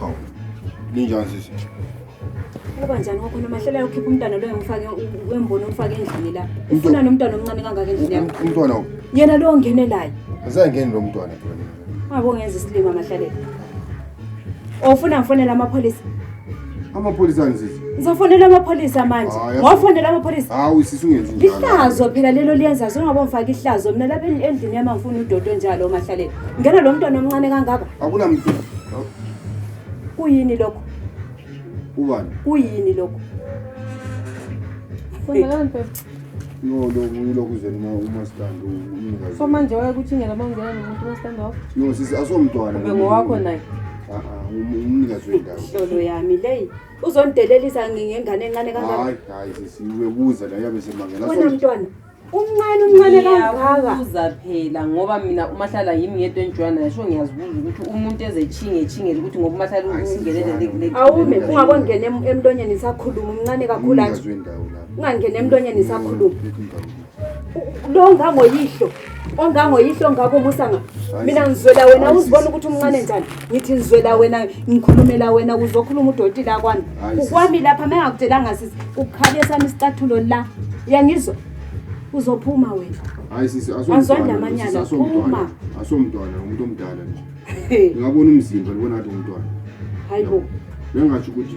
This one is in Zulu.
Hawu. Ninjani sisi? Kuba njani kwakhona mahlela ukhipha umntana lo engifake wembona umfake endlini la. Ufuna nomntana omncane kangaka endlini yakho. Umntwana Yena lo ongenelayo. usengeni lo mntwana phela. Ungakongenza isilima mahlalela. Ofuna oh, ngifonela amapholisa. Amapholisa ngizithi. Ngizofonela amapholisa manje. Ah, Ngofonela amapholisa. Hawu sisi ungenzi njalo. Ihlazo phela lelo liyenza songoba ngifaka ihlazo mina lapha endlini yami ngifuna udodo njalo omahlalela. Ngena lo mntwana omncane kangaka. Akunamntu. Kuyini lokho? Ubani? Kuyini lokho? Kwenzakalani phela? No, lokhu yilokhu uzeni uma uma sithanda umnikazi. So manje waye ukuthi ngela mangena nomuntu mastand off. No, sisi asomntwana. Ube ngowakho naye. Ah ah, um- umnikazi wendawo. Hlolo yami leyi. Uzondelelisa ngengane encane kangaka. Hayi, hayi sisi ubebuza la yabe semangela. Wena mntwana. umncane umncane kangaka ngiyabuza phela ngoba mina umahlala yimi ngedwa engijoya naye sho ngiyazibuza ukuthi umuntu ezetshinge etshingele ukuthi ngoba umahlala ungenelele awume ungakongena em- emlonyeni isakhuluma umncane kakhulu anje Ungazwe indawo lapho. ungangena emlonyeni isakhuluma Yikho indawo le. lo ongangoyihlo ongangoyihlo ongako umusa nga mina ngizwela wena uzibona ukuthi umncane njani ngithi ngizwela wena ngikhulumela wena kuzokhuluma udoti la kwami ukwami lapha mengakutshelanga sisi ukukhabe sami isicathulo la uyangizwa uzophuma wena hayi sisi asomntwana amanyala asomntwana asomntwana umuntu omdala nje ngingabona umzimba libona ngathi umntwana hayi bo bengasho ukuthi